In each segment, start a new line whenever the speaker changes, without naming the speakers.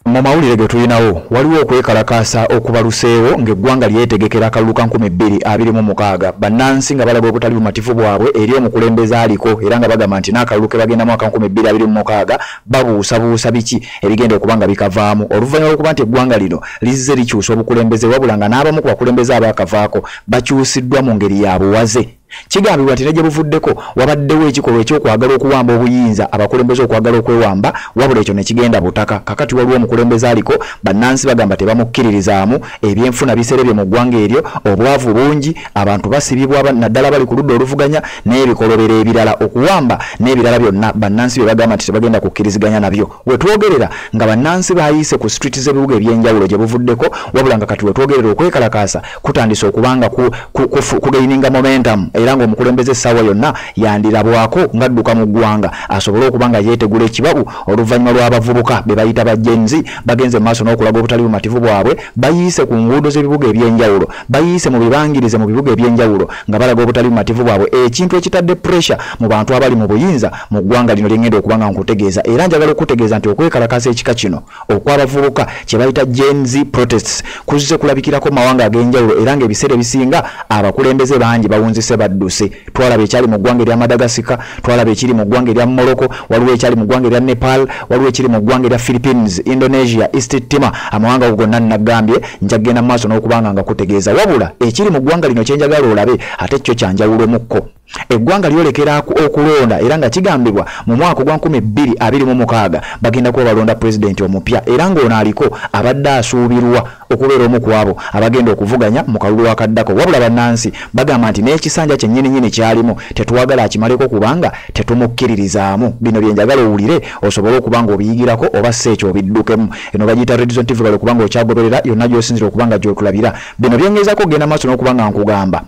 mu mawulire ge tulinawo waliwo okwekalakaasa okubaluseewo ng'eggwanga lyetegekera akalulu ka 2026 bannansi nga balaga obutali bumativu bwabwe eri omukulembeze aliko era nga bagamba nti n'akalulu ke bagendamu aka 2026 babuusabuusa biki ebigenda okuba nga bikavaamu oluvannyuma lwokuba nti eggwanga lino lizze likyusa obukulembeze wabula nga n'abamu ku bakulembeze abaakavaako bakyusiddwa mu ngeri ya buwaze kigambibwa nti ne gye buvuddeko wabaddewo ekikolwa ekyokwagala okuwamba obuyinza abakulembeze okwagala okwewamba wabula ekyo ne kigenda butaka kakati waliwo omukulembeze aliko bannansi bagamba tebamukkiririzaamu ebyenfuna biserebye mu ggwanga eryo obwavu bungi abantu basibibwa naddala bali ku ludda oluvuganya n'ebikolobero ebirala okuwamba n'ebirala byonna bannansi bye bagamba nti tebagenda kukkiriziganya nabyo wetwogerera nga bannansi bayiise ku street z'ebibuga ebyenjawulo gye buvuddeko wabula nga kati wetwogerera okwekalakaasa kutandise okubanga kugaininga momentum era ng'omukulembeze essaawa yonna yandirabwako ng'adduka mu ggwanga asobole okuba nga yeetegula ekibabu oluvannyuma lw'abavubuka be bayita ba genzi bagenze maaso n'okulaga obutali bumativu bwabwe bayiise ku nguudo z'ebibuga eby'enjawulo bayiise mu bibangirize mu bibuga eby'enjawulo nga balaga obutali bumativu bwabwe ekintu ekitadde pressure mu bantu abali mu buyinza mu ggwanga lino lyengenda okuba nga nkutegeeza era njagala okukutegeeza nti okwekalakaasa ekika kino okw'abavubuka kye bayita gens protests kuzze kulabikirako mu mawanga ag'enjawulo era ng'ebiseera ebisinga abakulembeze bangi bawunzise badduse twalaba ekyali mu ggwanga erya madagasika twalaba ekiri mu ggwanga erya morocco waliwo ekyali mu ggwanga erya nepal waliwo ekiri mu ggwanga erya philippines indonesia east tima amawanga go gonna nnagambye nja kugenda mu maaso n'okubanga nga kutegeeza wabula ekiri mu ggwanga lino kyenjagala olabe ate kyo kyanjawulomukko eggwanga lyolekera okulonda era nga kigambibwa mu mwaka ogwa 226 bagenda kuba balonda pulezidenti omupya era ng'ono aliko abadde asuubirwa okubeera omu ku abo abagenda okuvuganya mu kalulu akaddako wabula bannansi bagamba nti n'ekisanja kyennyininyini kyalimu tetwagala akimaleko kubanga tetumukkiririzaamu bino bye njagala owulire osobole okuba nga obiyigirako oba si ekyo obiddukemu eno bagiyita redison tv kale okuba nga okyagoberera yonna gy'osinzira okuba nga gy'otulabira bino byengeezako okugenda maaso n'okuba nga nkugamba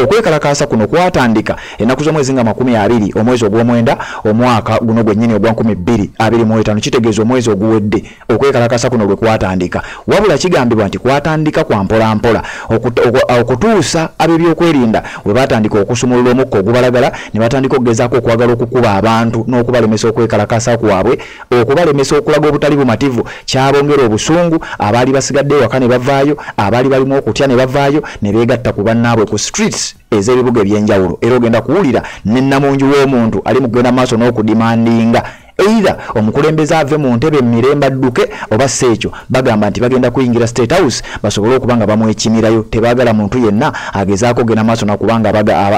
Okwekalakaasa kuno kwatandika ennaku z'omwezi nga makumi abiri omwezi ogw'omwenda omwaka guno gwennyini ogwa nkumi bbiri abiri mu etaano kitegeeza omwezi oguwedde okwekalakaasa kuno lwe kwatandika wabula kigambibwa nti kwatandika kwa mpolampola okutuusa ab'ebyokwerinda we baatandika okusumulula omukka ogubalagala ne batandika okugezaako okwagala okukuba abantu n'okubalemesa okwekalakaasa kwabwe okubalemesa okulaga obutali bumativu kyabongera obusungu abaali basigadde ewaka ne bavaayo abaali balimu okutya ne bavaayo ne beegatta ku bannaabwe ku streets ez'ebibuga eby'enjawulo era ogenda kuwulira ne nnamungi w'omuntu ali mu kugenda maaso n'okudimandinga either omukulembeze ave mu ntebe mirembe adduke oba si ekyo bagamba nti bagenda kuyingira state house basobole okuba nga bamwekimirayo tebaagala muntu yenna agezaako ogenda maaso nakubanga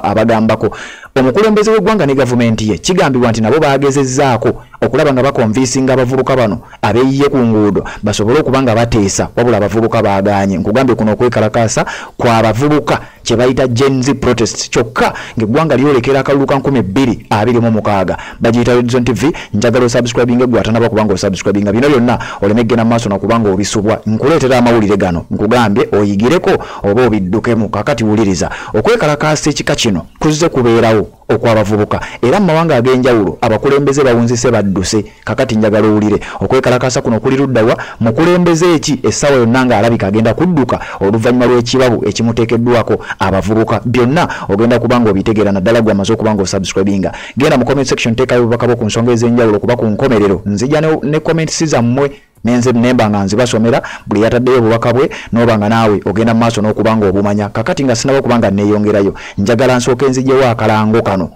abagambako omukulembeze w'eggwanga ne gavumenti ye kigambibwa nti nabo baagezezzaako okulaba nga bakonvinsinga abavubuka bano abeeyiye ku nguudo basobole okuba nga bateesa wabula abavubuka baagaanye nkugambye kuno okwekalakaasa kwa bavubuka kye bayita genz protest kyokka ng'eggwanga lyolekera akalulu ka 226 bagiyita redison tv njagala osubscribinga eggwe atanaba kuba nga osubscribinga bino byonna oleme eggena maaso nakuba nga obisubwa nkuleetera amawulire gano nkugambye oyigireko oba obiddukemu kakati wuliriza okwekalakaasa ekika kino kuzze kubeerawo okwabavubuka era mu mawanga ag'enjawulo abakulembeze bawunzise badduse kakati njagala owulire okwekalakaasa kuno kuli luddawa mukulembeze eki essaawa yonna ng'alabika agenda kudduka oluvannyuma lw'ekibabu ekimuteekeddwako abavubuka byonna ogenda kuba nga obitegeera naddala gwe amaze okuba nga osubscribinga genda mu comment section teekayo obubaka bwo ku nsonga ez'enjawulo kuba ku nkomerero nzija ne comments zammwe nenze nemba nga nziba somera buli yataddeyo obubaka bwe noba nga naawe ogenda mu maaso n'okuba nga obumanya kakati nga sinaba okuba nga nneeyongerayo njagala nsooka enzijewo akalango kano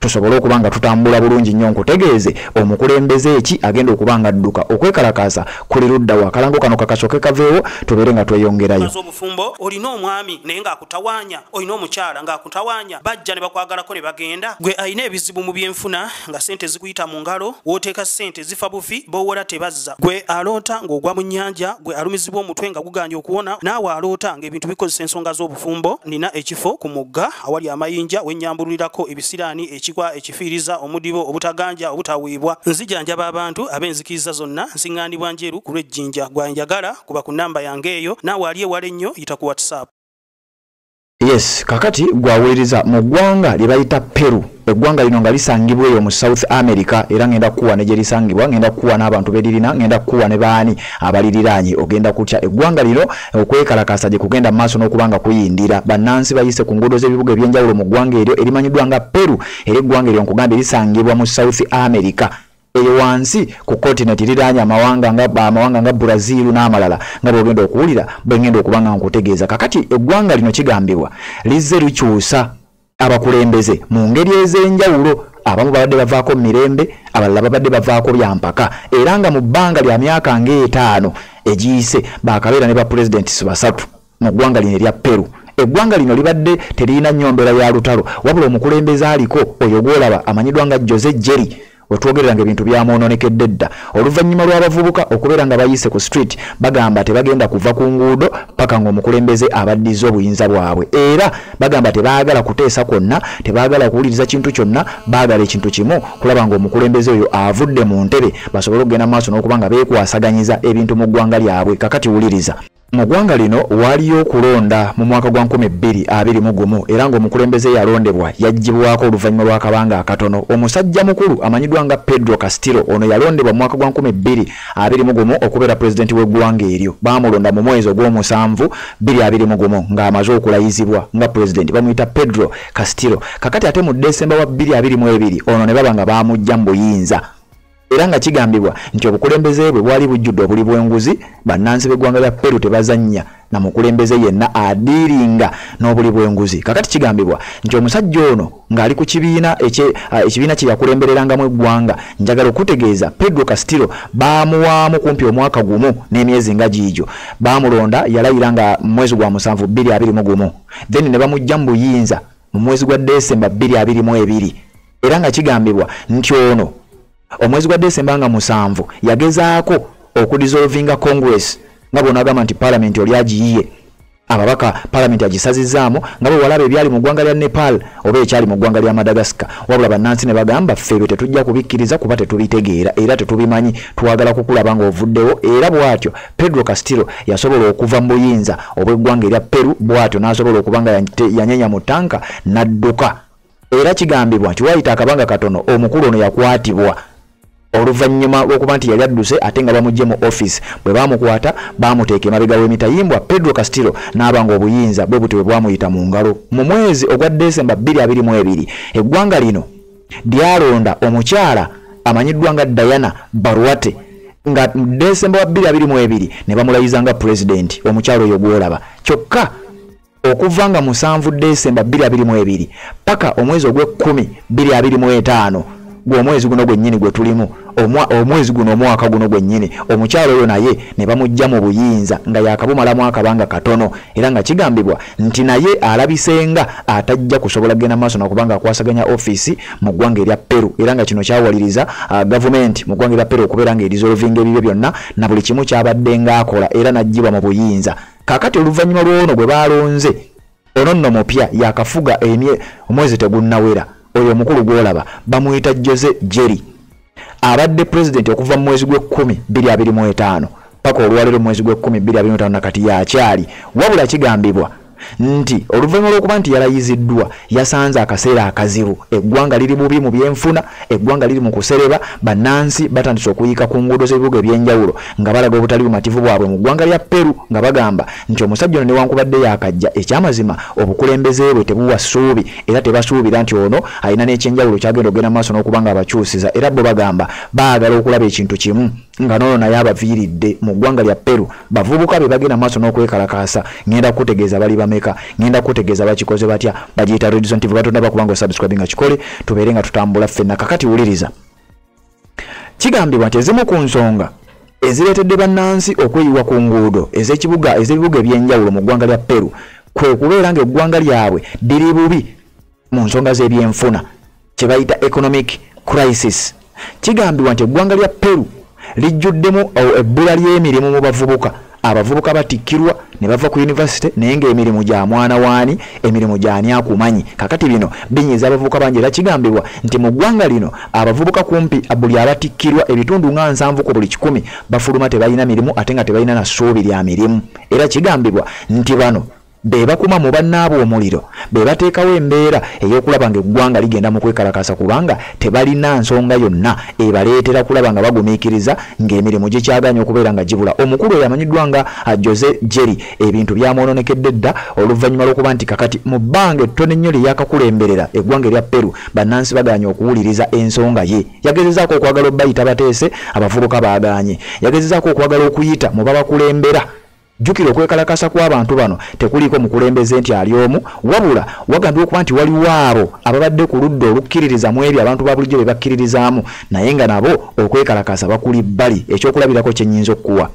tusobole okuba nga tutambula bulungi nnyo nkutegeeze omukulembeze eki agenda okuba nga adduka okwekalakaasa kuli ludda wa akalango kano kakasoke kaveewo tubeere nga tweyongerayo obufumbo olina
omwami naye ng'akutawaanya olina omukyala ng'akutawaanya bajja ne bakwagalako ne bagenda gwe alina ebizibu mu byenfuna nga sente zikuyita mu ngalo wooteeka sente ezifa bufi bowora tebazza gwe aloota ng'ogwa mu nnyanja gwe alumizibwa omutwe nga guganye okuwona naawe aloota ng'ebintu bikozesa ensonga z'obufumbo nina ekifo ku mugga awali amayinja wennyambululirako ebisiraani ekikwa ekifiiriza omudibo obutaganja obutaweebwa nzijanjaba abantu ab'enzikiriza zonna nsiŋŋaanibwa njeru ku lw'ejjinja gwanjagala kuba ku nnamba yange eyo naawe ali ewala ennyo yita ku whatsapp
yes kakati gwawuliriza mu ggwanga lye bayita peru eggwanga lino nga lisangibwa eyo mu south america era ngenda kukuwa ne gye lisangibwa ngenda kukuwa n'abantu beririna ngenda kukuwa ne baani abaliriraanye ogenda kutya eggwanga lino okwekalakaasa gye kugenda maaso n'okuba nga kuyindira bannansi bayise ku nguudo z'ebibuga eby'enjawulo mu ggwanga eryo erimanyiddwa nga peru era eggwanga eryo nkugambye lisangibwa mu south america eyo wansi ku continent liraanye amawanga nga amawanga nga Brazil n'amalala nga bwogenda okuwulira bwengenda okuba nga nkutegeeza kakati eggwanga lino kigambibwa lizze likyusa abakulembeze mu ngeri ez'enjawulo abamu babadde bavaako mu mirembe abalala babadde bavaako bya mpaka era nga mu bbanga lya myaka ng'etaano egiyise baakabeera ne bapulezidenti si basatu mu ggwanga lino erya peru eggwanga lino libadde teririna nnyo mbeera ya lutalo wabula omukulembeze aliko oyo gwolaba amanyidwa nga jose jerry wetwogerera nga ebintu byamwononekedde dda oluvannyuma lw'abavubuka okubeera nga bayise ku street bagamba tebagenda kuva ku nguudo paka ng'omukulembeze abaddiza obuyinza bwabwe era bagamba tebaagala kuteesa kwonna tebaagala kuwuliriza kintu kyonna baagala ekintu kimu kulaba ng'omukulembeze oyo avudde mu ntebe basobole okugenda mu maaso n'okuba nga beekwasaganyiza ebintu mu ggwanga lyabwe kakati wuliriza Mu ggwanga lino waaliyo okulonda mu mwaka gwa nkumi bbiri abiri mu gumu era ng'omukulembeze yalondebwa yaggyibwako oluvannyuma lw'akabanga akatono. Omusajja mukulu amanyiddwa nga Pedro Castillo ono yalondebwa mu mwaka gwa nkumi bbiri abiri mu gumu okubeera pulezidenti w'eggwanga eryo. Baamulonda mu mwezi ogw'omusanvu bbiri abiri mu gumu ng'amaze okulayizibwa nga pulezidenti bamuyita Pedro Castillo. Kakati ate mu Desemba wa bbiri abiri mu ebiri ono ne baba nga baamuggya mu buyinza. era nga kigambibwa nti obukulembeze bwe bwali bujjudde obuli bw'enguzi bannansi b'eggwanga lya peru tebazannya na mukulembeze yenna adiiringa n'obuli bw'enguzi kakati kigambibwa nti omusajja ono ng'ali ku kibiina ah, ekibiina kye yakulembererangamu eggwanga njagala okutegeeza pedro castillo baamuwaamu kumpi omwaka gumu n'emyezi nga giigyo baamulonda yalayira nga mu mwezi gwa musanvu bbiri abiri mu gumu then ne bamujja mu buyinza mu mwezi gwa desemba bbiri abiri mu ebiri era nga kigambibwa nti ono omwezi gwa desemba nga musanvu yagezaako okudisolvinga congress nga bona agamba nti palamenti oli agiyiye ababaka palamenti agisazizaamu nga bwe walaba ebyali mu ggwanga lya nepal oba ekyali mu ggwanga lya madagascar wabula bannansi ne bagamba ffeebyo tetujja kubikkiriza kuba tetubitegeera era tetubimanyi twagala kukulaba ng'ovuddewo era bw'atyo pedro castillo yasobola okuva mu buyinza obw'eggwanga erya peru bw'atyo n'asobola okuba nga yanyenya mu tanka n'adduka era kigambibwa nti wayita akabanga katono omukulu ono yakwatibwa oluvannyuma lw'okuba nti yali adduse ate nga bamugye mu office bwe baamukwata baamuteeka emabega w'emitayimbwa pedro castillo n'aba nga obuyinza bwe butyo bwe bwamuyita mu ngalo mu mwezi ogwa desemba 222 eggwanga lino lyalonda omukyala amanyiddwa nga diana barwate nga desemba wa 222 ne bamulayiza nga pulezidenti omukyala oyo gwolaba kyokka okuva nga musanvu desemba 22 paka omwezi ogw'ekkumi 25 gw'omwezi guno gwennyini gwe tulimu omwezi guno omwaka guno gwennyini omukyalo oyo naye ne bamujja mu buyinza nga yakabumalamu akabanga katono era nga kigambibwa nti naye alabisenga atajja kusobola kugenda maaso nakubanga akwasaganya ofiisi mu ggwanga erya peru era nga kino kyawaliriza uh, gavumenti mu ggwanga erya peru okubeera nga erizolovinga ebibyo byonna na buli kimu kyabadde ng'akola era n'aggyibwa mu buyinza kakati oluvannyuma lw'ono gwe baalonze ono nno mupya yakafuga emye omwezi tegunnawera oyo omukulu gw'olaba bamuyita jose jerry abadde pulezidenti okuva mu mwezi gw'ekkumi bbiri abiri mu etaano paka olwaleero mwezi gw'ekkumi bbiri abiri mu etaano nakati yakyali wabula kigambibwa nti oluvannyuma lw'okuba nti yalayiziddwa yasanze akaseera akazibu eggwanga liri bubi mu byenfuna eggwanga liri mu kusereba bannansi batandise okuyiika ku nguudo z'ebibuga eby'enjawulo nga balaga obutali bumativu bwabwe mu ggwanga lya peru nga bagamba nti omusajja ono newankubadde yakajja ekyamazima obukulembeze bwe tebuwa ssuubi era tebasuubira nti ono alina n'ekyenjawulo kyagenda okugenda mu maaso n'okuba nga abakyusiza era bo bagamba baagala okulaba ekintu kimu nga nono naye abaviiridde mu ggwanga lya peru bavubuka be bagenda maaso n'okwekalakaasa ngenda kutegeeza bali bameka ngenda kutegeeza bakikoze batya bagiyita redison tv batonda bakubanga osubscribe nga kikole tubeere nga tutambula ffenna kakati wuliriza kigambibwa nti ezimu ku nsonga ezireetedde bannansi okweyiwa ku nguudo ez'ekibuga ez'ebibuga eby'enjawulo mu ggwanga lya peru kwe kubeera ng'eggwanga lyabwe liri bubi mu nsonga z'ebyenfuna kye bayita economic crisis kigambibwa nti eggwanga lya peru lijjuddemu ebbula ly'emirimu mu bavubuka abavubuka batikkirwa ne bava ku yunivasite naye ng'emirimu gya mwana waani emirimu gyani akumanyi kakati bino binyiza abavubuka bangi era kigambibwa nti mu ggwanga lino abavubuka kumpi buli abatikkirwa ebitundu nga nsanvu ku buli kikumi bafuluma tebalina mirimu ate nga tebalina na ssuubi lya mirimu era kigambibwa nti bano be bakuma mu bannaabwe omuliro be bateekawo embeera ey'okulaba nga eggwanga ligenda mu kwekalakaasa kubanga tebalina nsonga yonna ebaleetera kulaba nga bagumiikiriza ng'emirimu gikyagaanye okubeera nga gibula omukulu oyo amanyiddwa nga jose jerry ebintu byamwononekedde dda oluvannyuma lw'okuba nti kakati mu bbanga ettono ennyo lye yakakulemberera eggwanga erya peru bannansi bagaanye okuwuliriza ensonga ye yagezezaako okwagala obayita bateese abavubuka baagaanye yagezezaako okwagala okuyita mu babakulembera Jjukira okwekalakaasa kw'abantu bano tekuliiko mukulembeze nti ali omu wabula wagambye okuba nti waliwo abo ababadde ku ludda olukkiririza mu ebyo abantu ba bulijjo bye bakkiririzaamu naye nga nabo okwekalakaasa bakuli bbali ekyokulabirako kye nnyinza okukuwa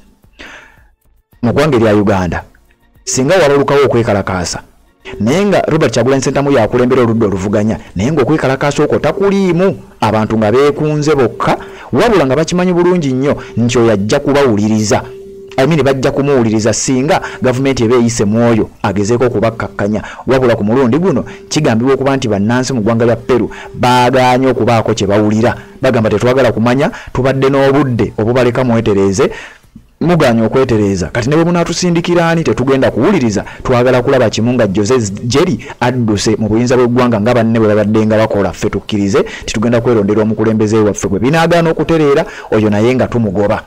mu ggwanga erya uganda singa wabalukawo okwekalakaasa naye nga robert kyagulanyi sentamu yakulembera oludda oluvuganya naye ngaokwekalakaasa okwo takuliimu abantu nga beekunze bokka wabula nga bakimanyi bulungi nnyo nti oyo ajja kubawuliriza amini bajja kumuwuliriza singa gavumenti eba eyise mu oyo agezeeko okubakkakkanya wabula ku mulundi guno kigambibwa okuba nti bannansi mu ggwanga lya peru baagaanye okubaako kye bawulira bagamba tetwagala kumanya tubadde n'obudde obubaleka mwetereeze muganye okwetereeza kati ne bwe munaatusindikira ani tetugenda kuwuliriza twagala kulaba kimu nga jose jeri adduse mu buyinza bw'eggwanga nga banne bwe babadde nga bakola ffe tukkirize nti tugenda kwerondera omukulembeze waffe bwe binaagaana okutereera oyo naye nga tumugoba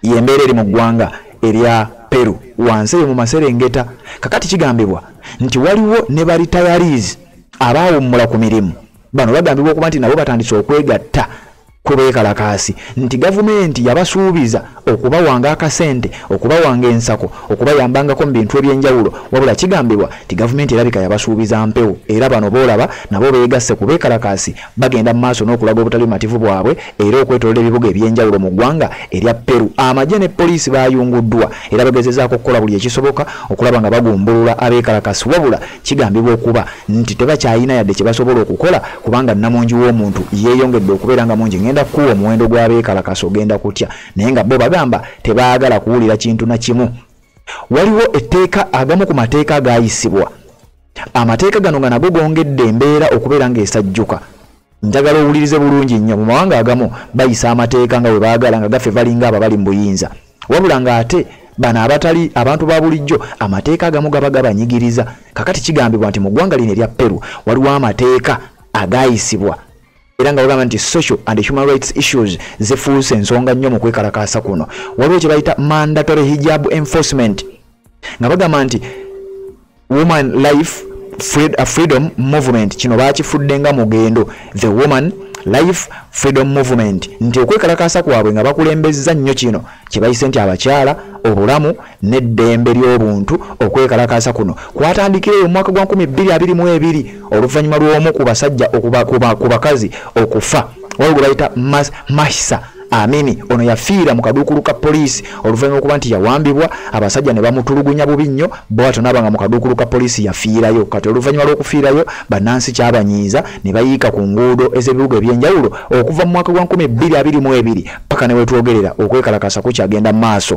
yembeera eri mu ggwanga erya peru wansi eyo mu maserengeta kakati kigambibwa nti waliwo ne baritayariizi abaawummula ku mirimu bano bagambibwa okuba nti nabo batandise okwegatta kwe beekalakaasi nti gavumenti yabasuubiza okubawanga akasente okubawanga ensako okubayambangako mu bintu eby'enjawulo wabula kigambibwa nti gavumenti erabika yabasuubiza mpewo era bano boolaba nabo beegasse ku beekalakaasi bagenda mu maaso n'okulaga obutali bumativu bwabwe era okwetolola ebibuga eby'enjawulo mu ggwanga erya peru amagye ne poliisi baayunguddwa era bagezezaako okukola buli ekisoboka okulaba nga bagumbulula abeekalakasi wabula Kigambibwa okuba nti tebakyalina yadde kye basobola okukola kubanga nnamungi w'omuntu yeeyongedde okubeera nga mungi. Ngenda kukuwa omuwendo gw'abeekalakasa ogenda kutya naye nga bo bagamba tebaagala kuwulira kintu na kimu. Waliwo etteeka agamu ku mateeka agaayisibwa. Amateeka gano nga nago gongedde embeera okubeera ng'esajjuka. njagala owulirize bulungi nnyo mu mawanga agamu bayisa amateeka nga bwe baagala nga gaffe valinga abo bali mu buyinza wabula ng'ate bano abatali abantu ba bulijjo amateeka agamu gaba gabanyigiriza kakati kigambibwa nti mu ggwanga lino erya peru waliwo amateeka agayisibwa era nga bagamba nti social and human rights issues zifuuse ensonga nnyo mu kwekalakaasa kuno waliwo kye bayita mandatory hijab enforcement nga bagamba nti woman life Fred, uh, freedom movement kino bakifudde nga mugendo the woman life freedom movement nti okwekalakaasa kwabwe nga bakulembezza nnyo kino kyebayise nti abakyala obulamu n'eddembe ly'obuntu okwekalakaasa kuno kwatandikira eyo omwaka gwa 2222 oluvannyuma lw'omu ku basajja ku bakazi okufa waliwo gwe bayita mahisa Amini ono yafiira mu kaduukulu ka poliisi oluvannyuma okuba nti yawambibwa abasajja ne bamutulugunya bubi nnyo bwatyo naaba nga mu kaduukulu ka poliisi yafiirayo kati oluvannyuma lw'okufiirayo bannansi kyabanyiiza ne bayiika ku nguudo ez'ebibuga eby'enjawulo okuva mu mwaka gwa 2022 paka ne wetwogerera okwekalakasa kukyagenda mu maaso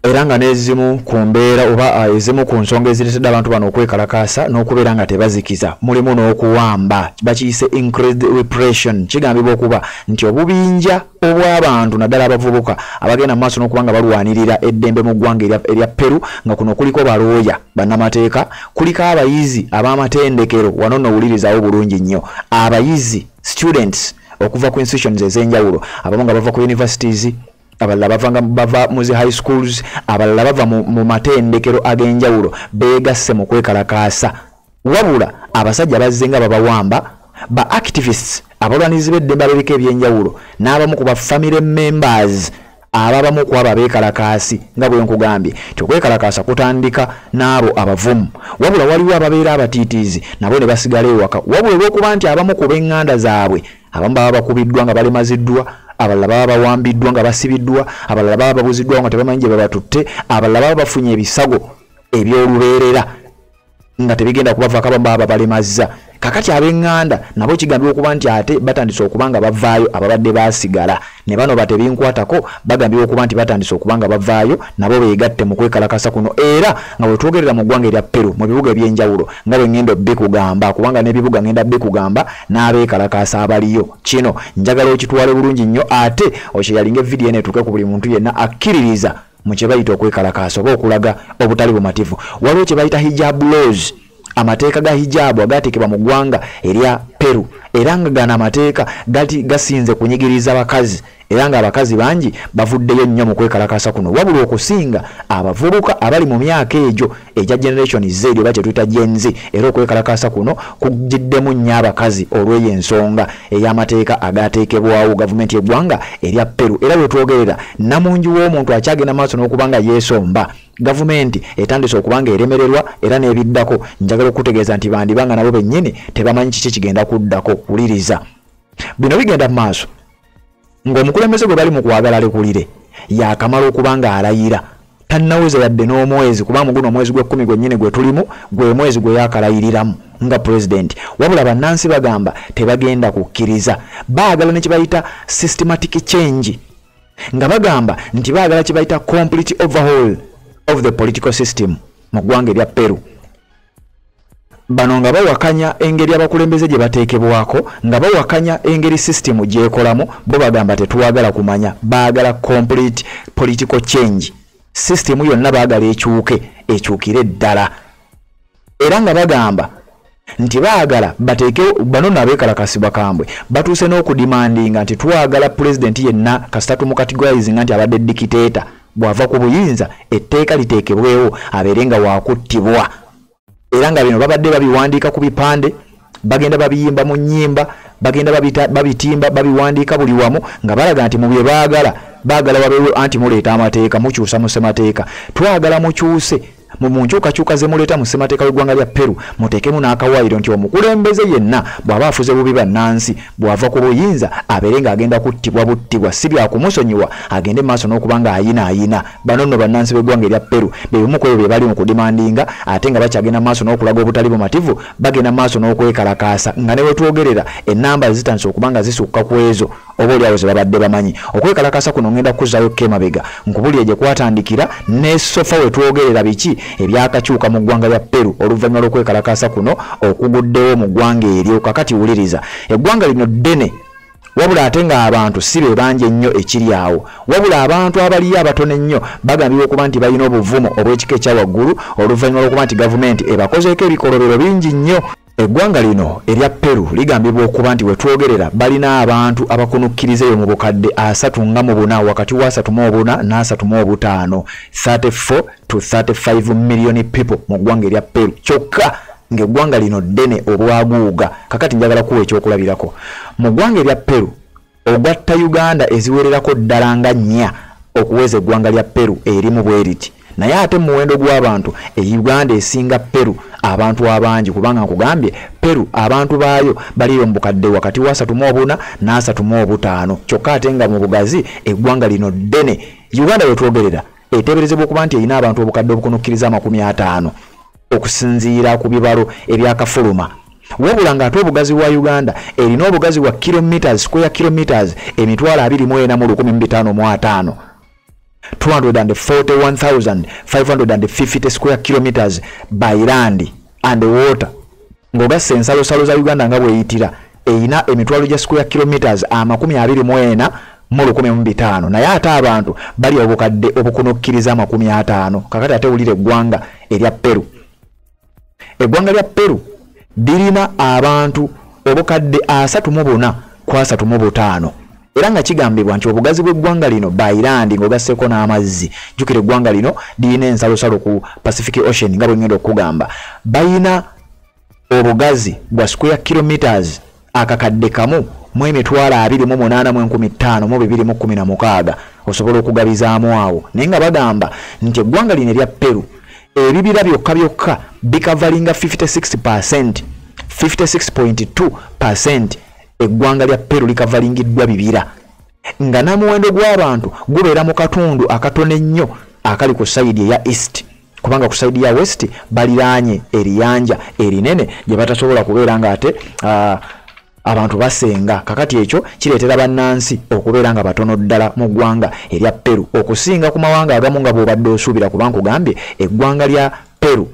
era nga n'ezimu ku mbeera oba ah, ezimu ku nsonga ezireetedde abantu bano okwekalakaasa n'okubeera nga tebazikiza mulimu n'okuwamba bakiyise increased repression kigambibwa okuba nti obubinja obw'abantu naddala abavubuka abagenda mu maaso n'okuba nga balwanirira eddembe mu ggwanga erya peru nga kuno kuliko balooya bannamateeka kuliko abayizi ab'amatendekero wano nowulirizawo bulungi nnyo abayizi students okuva ku institutions ez'enjawulo abamu nga bava ku universities abalala bavanga bava mu zi high schools abalala bava mu matendekero ag'enjawulo beegasse mu kwekalakaasa wabula abasajja bazze nga babawamba ba activists abalwanizi b'eddembe abebika ebyenjawulo n'abamu ku ba family members ababamu ku abo abeekalakaasi nga bwe nkugambye ti okwekalakaasa kutandika n'abo abavumu wabula waliwo ababeera abatiitiizi nabo ne basigala ewaka wabula olw'okuba nti abamu ku b'eŋŋanda zaabwe abamu baba bakubiddwa nga balemaziddwa abalala baba bawambiddwa nga basibiddwa abalala baba babuziddwawo nga tebamanyi gye babatutte abalala baba bafunye ebisago ebyolubeerera nga tebigenda kubavaako abamu baba babalemazza kakati ab'eŋŋanda nabo kigambibwa okuba nti ate batandise okuba nga bavaayo ababadde baasigala ne bano batebinkwatako bagambibwa okuba nti batandise okuba nga bavaayo nabo beegatte mu kwekalakasa kuno era nga bwe twogerera mu ggwanga erya peru mu bibuga eby'enjawulo nga bwe ŋŋenda obbikugamba kubanga n'ebibuga ŋŋenda bbikugamba n'abeekalakaasa abaliyo kino njagala okitwale bulungi nnyo ate okyeyalinga evidiyo eno etuuke ku buli muntu yenna akkiririza mu kye bayita okwekalakaasa oba okulaga obutali bumativu waliwo kye bayita hijab laws amateeka ga hijaabu agaateekebwa mu ggwanga erya peru era nga gano amateeka gati gasinze kunyigiriza bakazi era ng'abakazi bangi bavuddeyo nnyo mu kwekalakasa kuno wabula okusinga abavubuka abali mu myaka egyo egya generation z oba kyetuyita gen z era okwekalakaasa kuno kugiddemu nnyo abakazi olw'eyo ensonga ey'amateeka agaateekebwawo gavumenti y'eggwanga erya peru era wetwogerera namungi w'omuntu akyagenda maaso n'okuba nga yeesomba gavumenti etandise okuba nga eremererwa era n'ebiddako njagala okutegeeza nti bandiba nga nabo bennyini tebamanyi kiki kigenda kuddako wuliriza bino bigenda mu maaso ng'omukulembeze gwe bali mu kwagala lekulire yaakamala okuba ng'alayira tannaweza yadde n'omwezi kuba muguno omwezi gw'ekkumi gwennyini gwe tulimu gwe mwezi gwe yaakalayiriramu nga pulezidenti wabula bannansi bagamba tebagenda kukkiriza baagala ne kibayita systematic change nga bagamba nti baagala kibayita complete overhaul of the political system mu ggwanga erya peru bano nga bawakanya engeri abakulembeze gye bateekebwako nga bawakanya engeri sisitemu gyekolamu bo bagamba tetuwagala kumanya baagala complete political change sisitemu yonna baagala ekyuke ekyukire ddala era nga bagamba nti baagala bateekewo bano no abeekalakasi bakambwe batuuse n'okudimandinga nti twagala pulezidenti yenna kasita tumukatigwayizinga nti abadde dikiteeta bw'ava ku buyinza etteeka liteekebwewo abeere nga waakuttibwa era nga bino babadde babiwandiika ku bipande bagenda babiyimba mu nnyimba bagenda babitimba babiwandiika buli wamu nga balaga nti mu bye baagala baagala wabeewo anti muleeta amateeka mukyusa mu ssemateeka twagala mukyuse mu mu nkyukakyuka ze muleeta mu ssemateeka w'eggwanga lya peru muteekemu n'akawaayiro nti omukulembeze yenna bw'aba afuze bubi bannansi bw'ava ku buyinza abeere ng'agenda kuttibwa buttibwa si byakumusonyiwa agende mu maaso n'okuba ng'ayina ayina bano nno bannansi b'eggwanga erya peru be bimu ku ebyo bye bali mu kudimandinga ate nga bakyagenda mu maaso n'okulaga obutali bumativu bagenda mu maaso n'okwekalakaasa nga ne wetwogerera ennamba zitandise okuba nga zisukka ku ezo oba olyawo zebabadde bamanyi okwekalakasa kuno ngenda kukuzayo kemabega nkubulire gye kwatandikira ne sofa wetwogerera biki ebyakakyuka mu ggwanga lya peru oluvannyuma lw'okwekalakasa kuno okuguddewo mu ggwanga eryo kakati wuliriza eggwanga lino ddene wabula ate ng'abantu si be bangi ennyo ekiri awo wabula abantu abaliyo abatono ennyo bagambibwa okuba nti balina obuvumu obw'ekika ekya waggulu oluvannyuma lw'okuba nti gavumenti ebakozeeko ebikolobero bingi nnyo Eggwanga lino erya Peru ligambibwa okuba nti wetwogerera balina abantu abakunukkiriza eyo mu bukadde asatu nga mu buna wakati wa asatu mu obuna n'asatu mu obutaano 34 to 35 million people mu ggwanga erya Peru kyokka ng'eggwanga lino ddene obwaguuga kakati njagala kuwa ekyokulabirako mu ggwanga erya Peru ogatta uganda eziwererako ddala nga nnya okuweza eggwanga lya peru erimu bwe riti naye ate muwendo gw'abantu e uganda esinga peru abantu abangi kubanga nkugambye peru abantu baayo baliyo mu bukadde wakati wa asatu mu obuna n'asatu mu obutaano kyokka ate nga mu bugazi eggwanga lino ddene uganda wetwogerera eteeberezebwa okuba nti erina abantu obukadde obukonokkiriza amakumi ataano okusinziira ku bibalo ebyakafuluma wabula ng'ate obugazi bwa uganda erina obugazi bwa kilometres square kilometres emitwalo abiri mu ena mu lukumi mu bitaano mu ataano 241550 square kilometres by land and water ng'ogasse ensalosalo za uganda nga bweyitira erina emitwalo gya square kilometres amakumi abiri mu ena mu lukumi mu bitaano naye ate abantu bali obukadde obukunukkiriza amakumi ataano kakati ate wulira eggwanga erya peru eggwanga lya peru lirina abantu obukadde asatu mu buna ku asatu mu butaano era nga kigambibwa nti obugazi bw'eggwanga lino bairandi ng'ogasseeko n'amazzi jjukira eggwanga lino lirina ensalosalo ku pacific ocean nga bwe ngenda okukugamba balina obugazi bwa square kilometres akakadde kamu mu emitwalo abiri mu munaana mu enkumi ttaano mu bibiri mu kkumi na mukaaga osobola okugabizaamu awo naye nga bagamba nti eggwanga lino erya peru ebibira byokka byokka bikavalinga 56 percent 56.2 percent eggwanga lya peru likavalingiddwa bibira nga n'omuwendo gw'abantu gubeera mu katundu akatono ennyo akali ku sayidi eya east kubanga ku sayidi ya west baliraanye eriyanja erinene gye batasobola kubeera ng'ate uh, abantu basenga kakati ekyo kireetera bannansi okubeera nga batono ddala mu ggwanga erya peru okusinga ku mawanga agamu nga bw'obadde osuubira kuba nkugambye eggwanga lya peru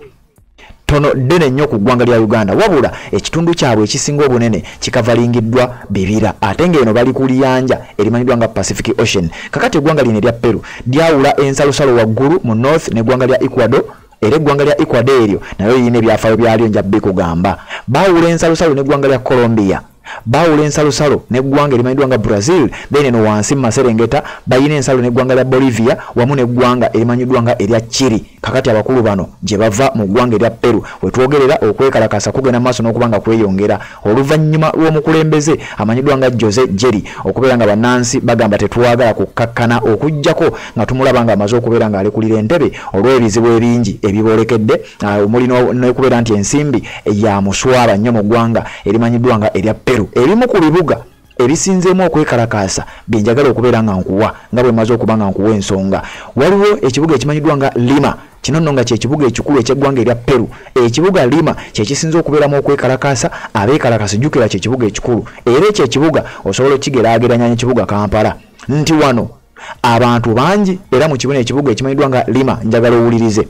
tono ddene nnyo ku ggwanga lya uganda wabula ekitundu kyabwe ekisinga obunene kikavalingiddwa bibira ate ng'eno bali ku liyanja erimanyiddwa nga pacific ocean kakati eggwanga lino erya peru lyawula ensalosalo waggulu mu north n'eggwanga lya ecuador era eggwanga lya ecuador eryo nayo lirina ebyafaayo byalyo nja bikugamba baawula ensalosalo n'eggwanga lya colombia baawula ensalosalo n'eggwanga erimanyiddwa nga brazil then eno wansi mu maserengeta balina ensalo n'eggwanga lya bolivia wamu n'eggwanga erimanyiddwa nga erya chiri kakati abakulu bano gye bava mu ggwanga erya peru wetwogerera okwekalakasa kugenda maaso n'okuba nga kweyongera oluvannyuma lw'omukulembeze amanyiddwa nga jose jerry okubeera nga bannansi bagamba tetwagala kukkakkana okugyako nga tumulaba nga amaze okubeera ng'alekulira entebe olw'ebizibu ebingi ebiboolekedde Ah, omuli nokubeera nti ensimbi ya muswaba nnyo mu ggwanga erimanyiddwa nga erya peru ebimu ku bibuga ebisinzeemu okwekalakaasa byenjagala okubeera nga nkuwa nga bwe maze okuba nga nkuwa ensonga waliwo ekibuga ekimanyiddwa nga lima kino nno nga kyekibuga ekikulu ekyeggwanga erya peru ekibuga lima kyekisinza okubeeramu okwekalakaasa abeekalakasa jjukira kyekibuga ekikulu era ekyo ekibuga osobola okukigerageranya nekibuga kampala nti wano abantu bangi era mu kibuna ekibuga ekimanyiddwa nga lima njagala owulirize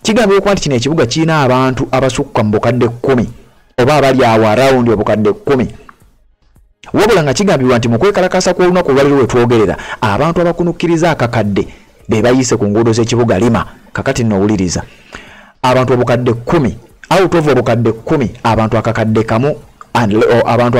kigambibwa okuba nti kino ekibuga kirina abantu abasukka mu bukadde kkumi oba abali awo arawundi obukadde kkumi wabula nga kigambibwa nti mu kwekalakaasa kw'olunaku olwaliro lwe twogerera abantu abakunukkiriza akakadde be bayiise ku nguudo z'ekibuga lima kakati nno owuliriza abantu obukadde kumi out of obukadde kumi abantu akakadde kamu abantu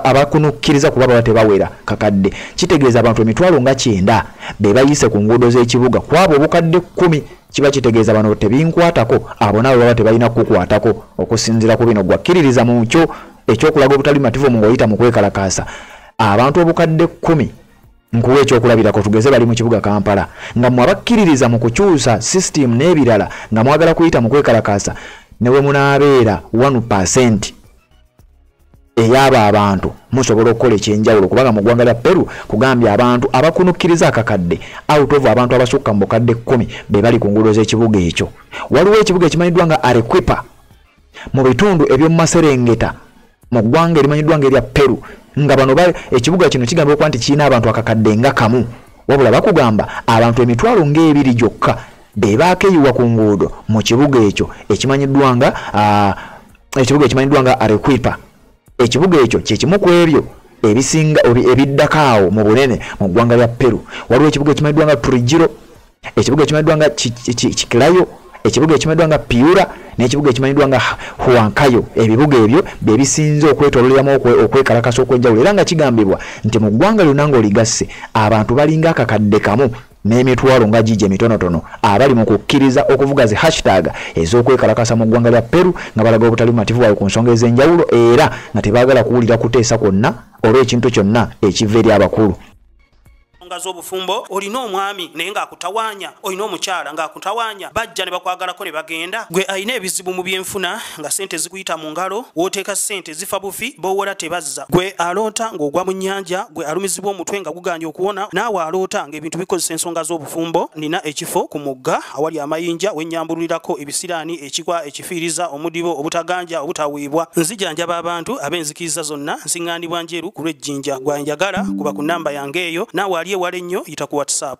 abakunukkiriza kuba baba tebawera kakadde kitegeeza abantu emitwalo nga kyenda be bayise ku nguudo z'ekibuga kwabo obukadde kumi kiba kitegeeza bano tebinkwatako abo nabo baba tebalina kukukwatako okusinziira ku bino gwakkiririza mu kyo ekyokulaga obutali mativu mu ngaoyita mu kwekalakaasa abantu obukadde kumi nkuwa ekyokulabirako tugeze bali mu kibuga kampala nga mwe abakkiririza mu kukyusa sisitimu n'ebirala nga mwagala kuyita mu kwekalakaasa ne bwe munaabeera 1 pasenti eyabo abantu musobola okukola ekyenjawulo kubanga mu ggwanga lya peru kugambye abantu abakunukkiriza akakadde outovu abantu abasukka mu bukadde kkumi be bali ku nguudo z'ekibuga ekyo waliwo ekibuga ekimanyiddwa nga arequipa mu bitundu eby'omu maserengeta mu ggwanga erimanyiddwa nga erya peru nga bano ekibuga kino kigamba okuba nti kirina abantu akakadde nga kamu wabula bakugamba abantu emitwalo ng'ebiri gyokka be baakeyiwa ku nguudo mu kibuga ekyo ekimanyiddwa nga ekibuga ekimanyiddwa nga arequipa ekibuga ekyo kye kimu ku ebyo ebisinga ebiddako awo mu bunene mu ggwanga lya peru waliwo ekibuga ekimanyiddwa nga turijiro ekibuga ekimanyiddwa nga kikilayo ekibuga ekimanyiddwa nga piura n'ekibuga ekimanyiddwa nga huankayo ebibuga ebyo bye bisinze okwetololeramu okwekalakasa okw'enjawulo era nga kigambibwa nti mu ggwanga lyonna ng'oligasse abantu balinga akakadde kamu n'emitwalo nga gigi emitonotono abali mu kukkiriza okuvuga zi hashtag ez'okwekalakasa mu ggwanga lya peru nga balaga obutali bumativu bwabwe ku nsonga ez'enjawulo era nga tebaagala kuwulira kuteesa kwonna oba ekintu kyonna ekiva eri abakulu ensonga
z'obufumbo olina omwami naye ng'akutawanya olina omukyala ng'akutawanya bajja ne bakwagalako ne bagenda gwe alina ebizibu mu byenfuna nga sente zikuyita mu ngalo wooteeka sente ezifa bufi bowora tebazza gwe aloota ng'ogwa mu nnyanja gwe alumizibwa omutwe nga guganye okuwona naawe aloota ng'ebintu bikozesa ensonga z'obufumbo nina ekifo ku mugga awali amayinja wennyambululirako ebisiraani ekikwa ekifiiriza omudibo obutaganja obutaweebwa nzijanjaba abantu ab'enzikiriza zonna nsiŋŋaanibwa njeru ku lw'ejjinja gwanjagala kuba ku nnamba yange eyo naawe ali ewala ennyo yita ku whatsapp